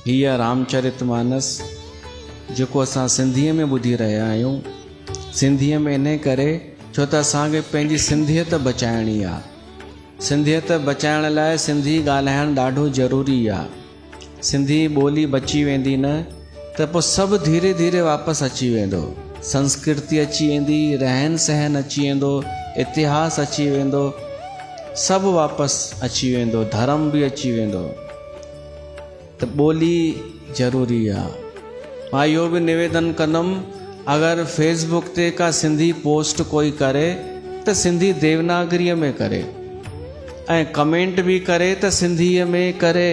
هيء رامچرت مانس جيڪو اسان سنڌيء ۾ ٻڌي رهيا آهيون، سنڌيء ۾ انهيء ڪري ڇو ته اسان کي پنهنجي سنڌيت بچائڻي آهي. سنڌيت بچائڻ لاء سنڌي ڳالهائڻ ڏاڍو ضروري آهي. سنڌي ٻولي بچي ويندي نه. ته پوء سڀ ڌيري ڌيري واپس اچي ويندو، سنسڪرتي اچي ويندي، رهن سهن اچي ويندو، اتهاس اچي ويندو، سڀ واپس اچي ويندو، ڌرم به اچي ويندو ته ٻولي ضروري آ. مان اهو به نويدن ڪندم اگر فيس بوڪ تي ڪا سنڌي پوسٽ ڪوئي ڪري ته سنڌي ديوناگريء ۾ ڪري ۽ ڪمينٽ به ڪري ته سنڌيء ۾ ڪري.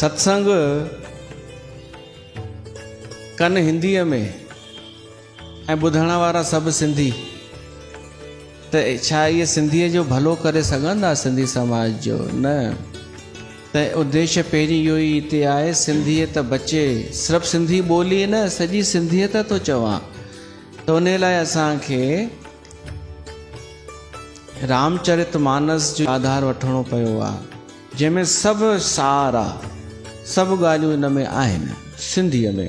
ستسنگ ڪن هنديء ۾ ۽ ٻڌڻ وارا سڀ سنڌي ته ڇا اهي سنڌيء جو ڀلو ڪري سگهندا سنڌي سماج جو نه ته اديش پهرين اهو ئي هتي آهي سنڌيت بچي صرف سنڌي ٻولي نه سڄي سنڌيت ٿو چوان ته ان لاء اسان کي رامچرت مانس جو آڌار وٺڻو پيو آهي جنهن ۾ سڀ سار آ. سڀ ڳالهيون ان ۾ آهن سنڌيء ۾.